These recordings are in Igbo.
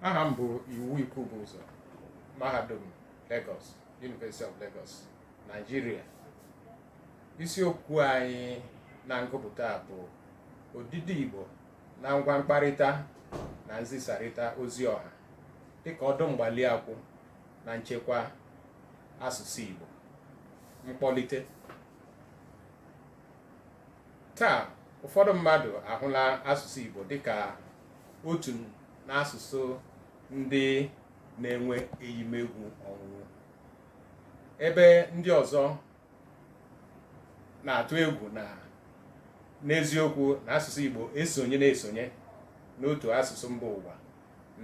aha m bụ Iwu Ikwubuzo mahadum Lagos University of Lagos Naijiria isiokwu anyị na ngụpụta bụ odide Igbo na ngwa mkparịta na nzisarịta ozi ọha dịka ọdụ mgbali akwụ na nchekwa asụsụ Igbo mkpọlite taa ụfọdụ mmadụ ahụla asụsụ Igbo dịka otu n'asụsụ ndị na-enwe eyimegwu ọnwụnwụ ebe ndị ọzọ na-atụ egwu na n'eziokwu na asụsụ Igbo esonye na-esonye n'otu asụsụ mba ụwa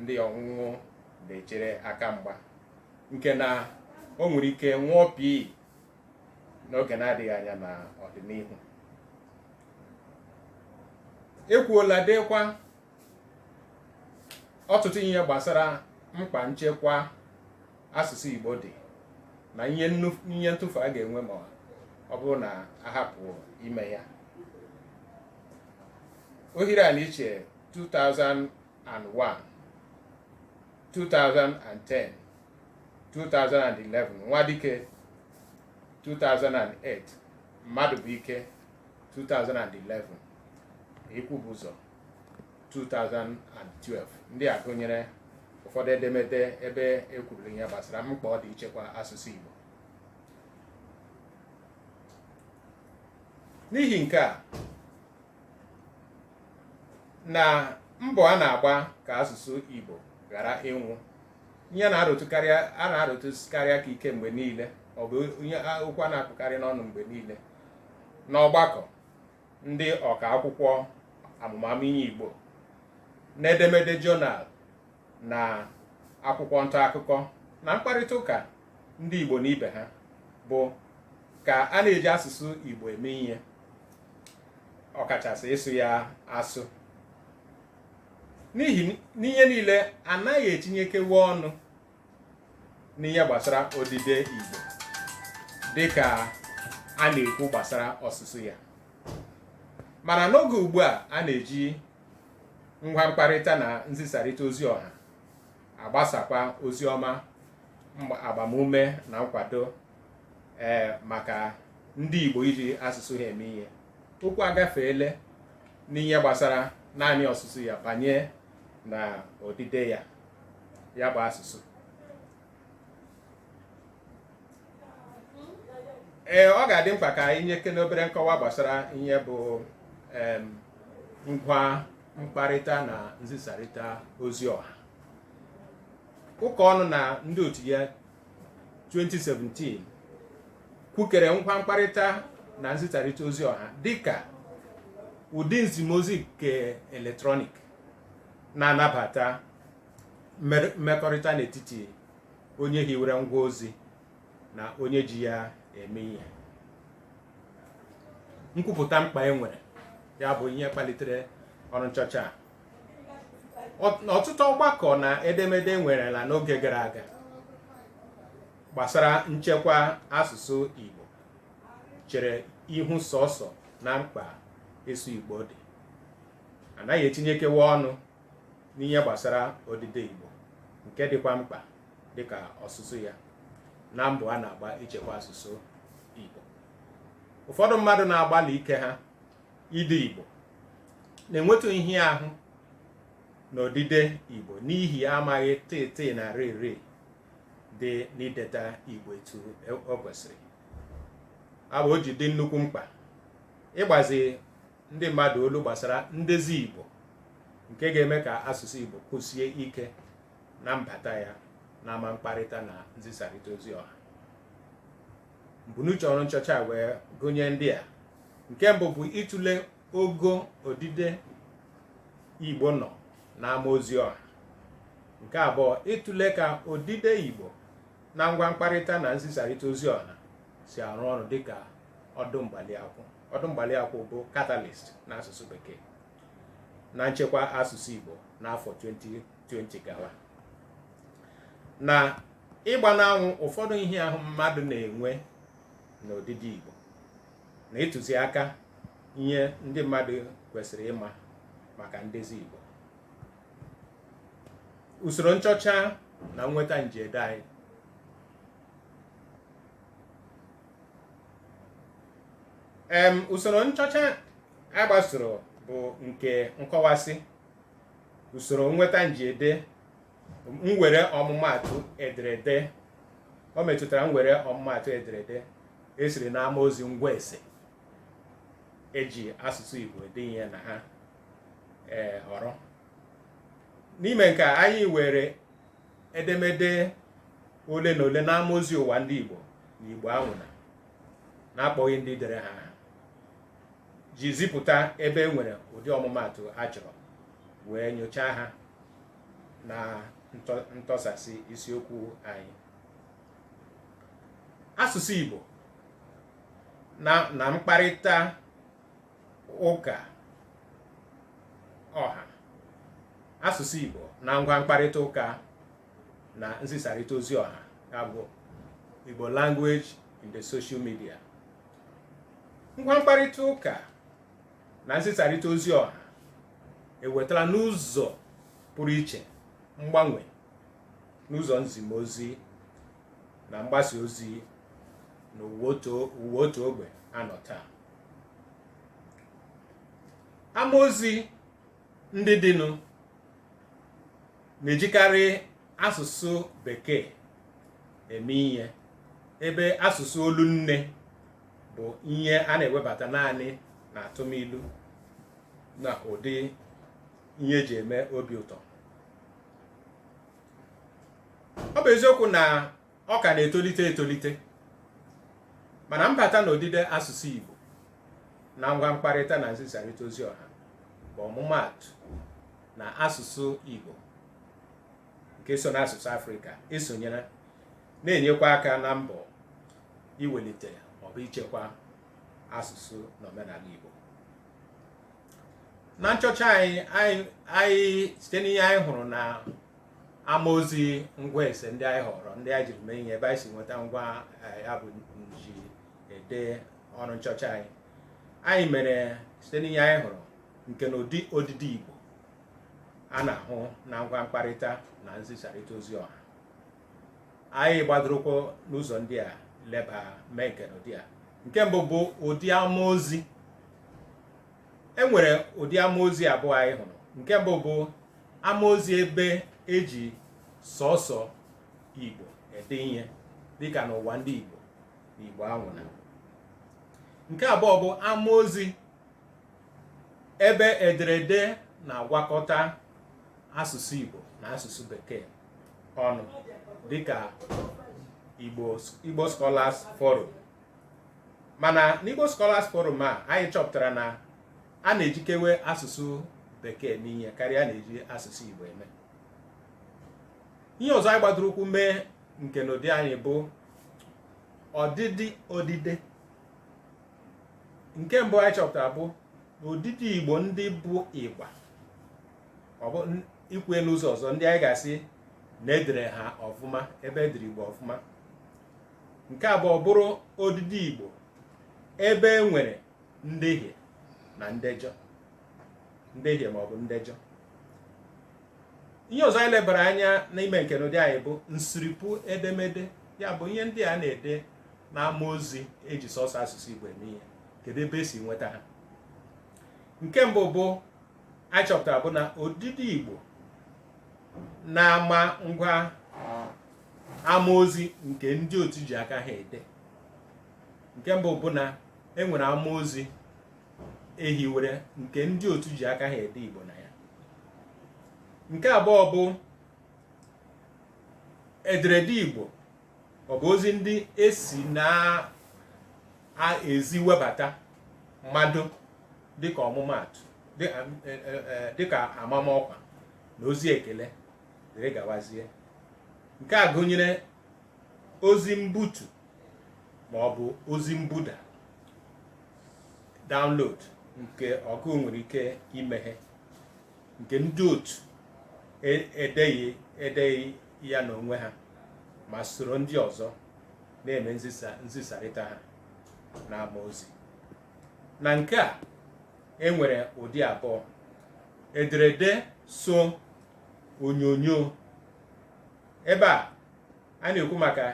ndị ọnwụnwụ na-echere aka mgba nke na o nwere ike nwụọ pii n'oge na-adịghị anya n'ọdịnihu e kwuola deekwa ọtụtụ ihe gbasara mkpa nchekwa asụsụ Igbo dị na ihe ntụfu a ga-enwe ma ọ bụrụ na a hapụ ime ya Ohiri-Aniche 2001 2010 2011 Nwadike 2008 Madubuike 2011 Ikwubuzo 2012 ndị a gụnyere ụfọdụ edemede ebe e kwururu ihe gbasara mkpa ọ dị ichekwa asụsụ Igbo n'ihi nke a na mbọ a na-agba ka asụsụ Igbo ghara ịnwụ ihe a na-arụtụkarị aka ike mgbe niile ọ bụ ihe okwu a na-akpụkarị n'ọnụ mgbe niile n'ọgbakọ ndị ọka akwụkwọ amụmamụ ihe Igbo n'edemede jọnal na akwụkwọ nta akụkọ na mkparịta ụka ndị Igbo na ibe ha bụ ka a na-eji asụsụ Igbo eme ihe ọkachasị ịsụ ya asụ n'ihi n'ihe niile a naghị etinyekewe ọnụ n'ihe gbasara odide Igbo dịka a na-ekwu gbasara ọsụsụ ya mana n'oge ugbu a a na-eji ngwa mkparịta na nzisarịta ozi ọha agbasakwa ozi ọma agbamume na nkwado ee maka ndị Igbo iji asụsụ ha eme ihe okwu agafeele n'ihe gbasara naanị ọsụsụ ya banye na odide ya ya bụ asụsụ ee ọ ga-adị mkpa ka anyị nyekene obere nkọwa gbasara ihe bụ em, ngwa mkparịta na nzisarịta ozi ọha Ụkaọnụ na ndị otu ya 2017 kwukere ngwa mkparịta na nzisarịta ozi ọha dịka ụdị nzimozi nke eletrọnik na-anabata mmer- mmekọrịta n'etiti onye hiwere ngwa ozi na onye ji ya eme ihe nkwupụta mkpa e nwere ya bụ ihe kpalitere ọrụ nchọcha a Ọ- ọtụtụ ọgbakọ na edemede e nwerela n'oge gara aga gbasara nchekwa asụsụ Igbo chere ihu sọsọ na mkpa ịsụ Igbo dị a naghị etinyekewa ọnụ n'ihe gbasara odide Igbo nke dịkwa mkpa dịka ọsụsụ ya na mbọ a na-agba ichekwa asụsụ Igbo ụfọdụ mmadụ na-agbalị ike ha ide Igbo na-enwetụ ịhịa ahụ na odide Igbo n'ihi amaghị tịtị na rịrị dị n'ideta Igbo etu e, o kwesịrị ya bụ o ji dị nnukwu mkpa ịgbazi ndị mmadụ olu gbasara ndezi Igbo nke ga-eme ka asụsụ Igbo kwụsie ike na mbata ya na ama mkparịta na nzisarịta ozi ọha mbunuche ọrụ nchọcha a wee gụnye ndị a nke mbụ bụ ịtụle ogo odide Igbo nọ n'ama ozi ọha nke abụọ ịtụle ka odide Igbo na ngwa mkparịta na nzisarịta ozi ọha si arụ ọrụ dịka ọdụ mgbali akwụ ọdụ mgbali akwụ bụ catalyst n'asụsụ Bekee na nchekwa asụsụ Igbo n'afọ 2020 gawa na ịgba n'anwụ ụfọdụ ịhịa ahụ mmadụ na-enwe n'odide Igbo na ịtụzi aka ihe ndị mmadụ kwesịrị ịma maka ndezi Igbo usoro nchọcha na nnweta njiede anyị em usoro nchọcha a gbasoro bụ nke nkọwasị usoro nnweta njiede mwere ọmụmaatụ ederede o metụtara mwere ọmụmaatụ ederede e siri n'ama ozi ngwa ese e ji asụsụ Igbo ede ihe na ha ee họrọ n'ime nke a anyị were edemede ole na ole n'ama ozi ụwa ndị Igbo na Igbo anwụna n'akpọghị ndị dere ha aha ji zipụta ebe e nwere ụdị ọmụmaatụ a chọrọ wee nyochaa ha na ntọsasị isiokwu anyị asụsụ Igbo na mkparịta ụka ọha asụsụ Igbo na ngwa mkparịta ụka na nzisarịta ozi ọha ya bụ Igbo language in the social media ngwa mkparịta ụka na nzisarịta ozi ọha ewetala n'ụzọ pụrụ iche mgbanwe n'ụzọ nzimozi na mgbasa ozi n'ụwa otu ogbe a nọ taa amaozi ndị dịnụ na-ejikarị asụsụ bekee eme ihe ebe asụsụ olu nne bụ ihe a na-ewebata naanị n'atụmilu na ụdị ihe e ji eme obi ụtọ ọ bụ eziokwu na ọ ka na-etolite etolite mana mbata na odide asụsụ Igbo na ngwa mkparịta na nzisarịta ozi ọha bụ ọmụmaatụ na asụsụ Igbo nke so n'asụsụ Afrịka esonyela na-enyekwa aka na mbọ iwelite maọbụ ichekwa asụsụ na omenala Igbo na nchọcha anyị site n'ihe anyị hụrụ na ama ozi ngwa ese ndị anyị họrọ ndị anyị jiri mee ihe ebe anyị si nweta ngwa eh, ya bụ njiede ọrụ nchọcha anyị anyị mere site n'ihe anyị hụrụ nkenụdị odide Igbo a na-ahụ na ngwa mkparịta na nzisarịta ozi ọha anyị gbadoro ụkwụ n'ụzọ ndị a leba mee nkenụdị a nke mbụ bụ ụdị amaozi e nwere ụdị amaozi abụọ anyị hụrụ nke mbụ bụ amaozi ebe e ji sọsọ igbo ede ihe dịka n'ụwa ndị igbo na igbo anwụna nke abụọ bụ amaozi ebe ederede na-agwakọta asụsụ igbo na asụsụ bekee ọnụ dịka igbo scholars forum mana n'Igbo Scholars Forum a anyị chọpụtara na a na-ejikewe asụsụ bekee eme ihe karịa na-eji asụsụ Igbo eme ihe ọzọ anyị gbadoro ụkwụ mee nkenụdị anyị bụ ọdịdị odide nke mbụ anyị chọpụtara bụ n'odide igbo ndị bụ ịgba ọ bụ ikwu ya n'ụzọ ọzọ ndị anyị ga-asị na e dere ha ọfụma ebe e dere igbo ọfụma nke abụọ bụrụ odide igbo ebe e nwere ndehie na ndejọ ndehie ma ọ bụ ndejọ ihe ọzọ anyị lebara anya n'ime nkenụdị anyị bụ nsiripụ edemede ya bụ ihe ndị a na-ede n'ama ozi e ji sọsọ asụsụ igbo eme ihe kedu ebe e si nweta ha nke mbụ bụ anyị chọpụtara bụ na odide igbo n'ama ngwa amaozi nke ndị otu ji aka ha ede nke mbụ bụ na e nwere amaozi e hiwere nke ndị otu ji aka ha ede Igbo na ya nke abụọ bụ ederede Igbo ọ bụ ozi ndị e si n'ezi webata mmadụ dịka ọmụmaatụ dịka amamọkwa na ozi ekele dịrị gawazie nke a gụnyere ozi mbutu ma ọ bụ ozi mbuda download nke ọgụụ nwere ike imeghe nke ndị otu e- edeghị edeghị ya n'onwe ha ma soro ndị ọzọ na-eme nzisa nzisarịta ha n'ama ozi na nke a e nwere ụdị abụọ ederede so onyonyo ebe a a na-ekwu maka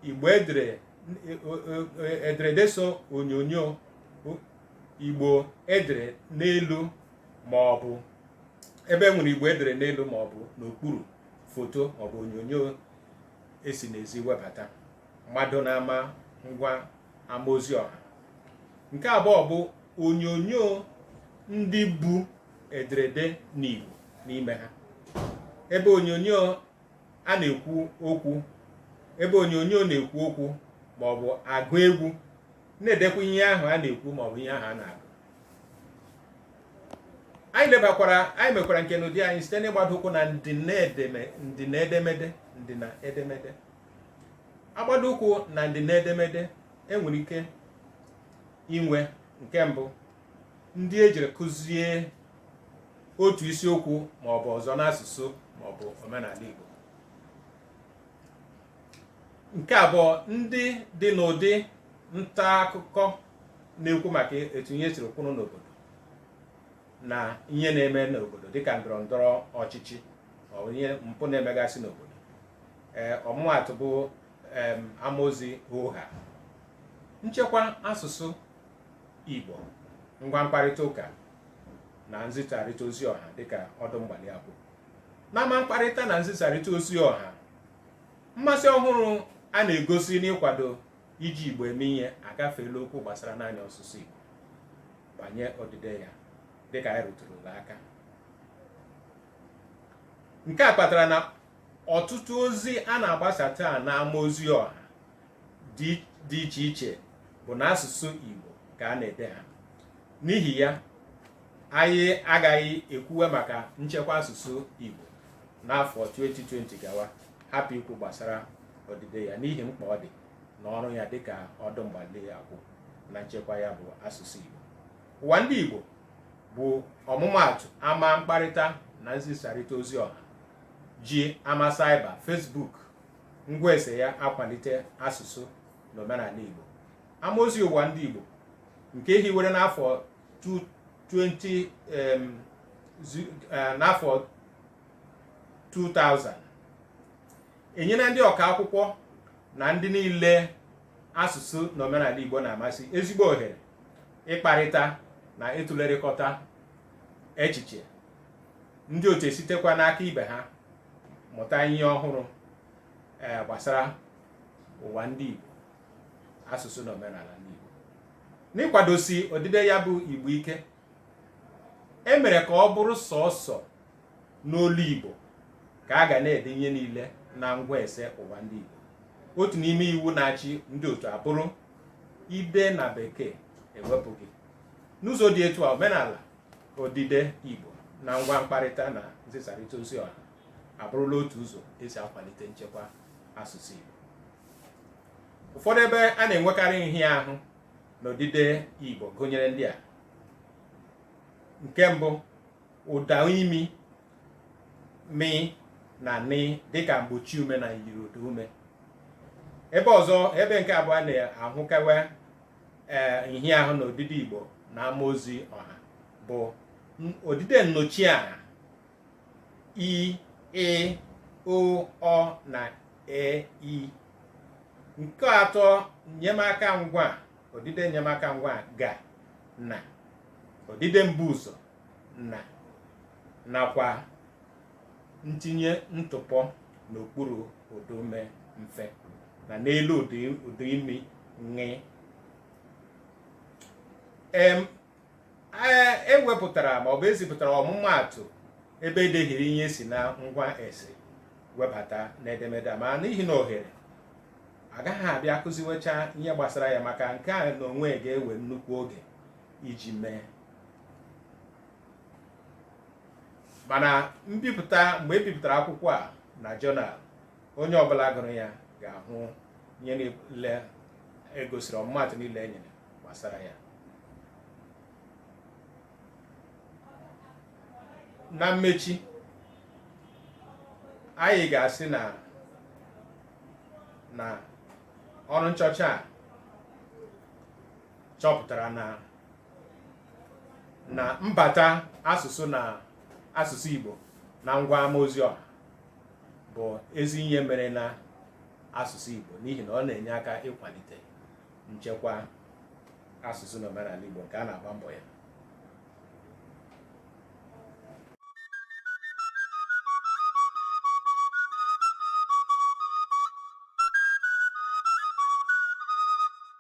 igbo e dere ederede so onyonyo igbo e dere n'elu ma ọ bụ ebe e nwere igbo e dere n'elu ma ọ bụ n'okpuru foto ma ọ bụ onyonyo e si n'ezi webata mmadụ n'ama ngwa ama ozi ọha nke abụọ bụ onyonyo ndị bu ederede n'Igbo n'ime ha ebe onyonyo a na-ekwu okwu ebe onyonyo na-ekwu okwu ma ọ bụ agụ egwu na-edekwa ihe ahụ a na-ekwu ma ọ bụ ihe ahụ a na-agụ anyị lebakwara anyị mekwara nkenụdị anyị site n'ịgbado ụkwụ na ndịna edemede ndịna edemede a gbado ụkwụ na ndịna edemede e nwere ike inwe nke mbụ ndị e jiri kuzie otu isiokwu ma ọ bụ ọzọ n'asụsụ ma ọ bụ omenala Igbo nke abụọ ndị dị n'ụdị nta akụkọ na-ekwu maka etu ihe siri kwụrụ n'obodo na ihe na-eme n'obodo dịka ndọrọ ndọrọ ọchịchị ma ọ bụ ihe mpụ na-emegasị n'obodo ee ọmụmaatụ bụ em, amaozi Hoohaa nchekwa asụsụ Igbo ngwa mkparịta ụka na nzisarịta ozi ọha dịka ọdụ mgbali akwụ n'ama mkparịta na nzisarịta ozi ọha mmasị ọhụrụ a na-egosi n'ịkwado iji Igbo eme ihe agafeela okwu gbasara naanị ọsụsụ Igbo banye odide ya dịka anyị rụtụrụla aka nke a kpatara na ọtụtụ ozi a na-agbasa taa n'ama ozi ọha dị iche iche bụ n'asụsụ Igbo ka a na-ede ha n'ihi ya anyị agaghị ekwuwe maka nchekwa asụsụ Igbo n'afọ 2020 gawa hapụ ikwu gbasara odide ya n'ihi mkpa ọ dị na ọrụ ya dịka ọdụ mgbali akwụ na nchekwa ya bụ asụsụ Igbo ụwa ndị Igbo bụ ọmụmaatụ ama mkparịta na nzisarịta ozi ọha ji ama saiba Facebook ngwa ese ya akwalite asụsụ na omenala Igbo amaozi ụwa ndị Igbo nke e hiwere n'afọ 20 eh, n'afọ 2000 enyela ndị ọka akwụkwọ na ndị niile asụsụ na omenala Igbo na-amasị ezigbo ohere ịkparịta na ịtụlerịkọta echiche ndị otu esitekwa n'aka ibe ha mụta ihe ọhụrụ ee gbasara ụwa ndị Igbo asụsụ na omenala ndị Igbo n'ịkwadosi odide ya bụ Igbo ike e mere ka ọ bụrụ sọọsọ n'olu Igbo ka a ga na-ede ihe niile na ngwa ese ụwa ndị Igbo otu n'ime iwu na-achị ndị otu abụrụ i dee na Bekee e wepụ gị n'ụzọ dị etu a omenala odide Igbo na ngwa mkparịta na nzisarịta ozi ọha abụrụla otu ụzọ e si akwalite nchekwa asụsụ Igbo ụfọdụ ebe a na-enwekarị nhịahụ n'odide Igbo gụnyere ndị a nke mbụ ụda imi mi na ni dịka mgbochi ume na myiri ụda ume ebe ọzọ ebe nke abụọ a na-ahụkewe ee nhịahụ na odide Igbo na ama ozi ọha bụ odide nnọchiaha i e o ọ na e i nke atọ nnyemaka ngwaa odide nnyemaka ngwaa ga na odide mbuụzọ na nakwa ntinye ntụpọ n'okpuru ụdaume mfe na n'elu ụdị ụda imi ṅị em a- e wepụtara ma ọ bụ e zipụtara ọmụmaatụ ebe e dehiri ihe si na ngwa ese webata n'edemede a ma n'ihi na ohere agaghị abịa kuziwecha ihe gbasara ya maka nke a n'onwe ga-ewe nnukwu oge iji mee mana mbipụta mgbe e bipụtara akwụkwọ a na jọnal onye ọbụla gụrụ ya ga-ahụ ihe niile e gosiri ọmụmaatụ niile e nyere gbasara ya na mmechi anyị ga-asị na na ọrụ nchọcha a chọpụtara na na mbata asụsụ na asụsụ Igbo na ngwa ama ozi ọha bụ ezi ihe mere na asụsụ Igbo n'ihi na ọ na-enye aka ịkwalite nchekwa asụsụ na omenala Igbo nke a na-agba mbọ ya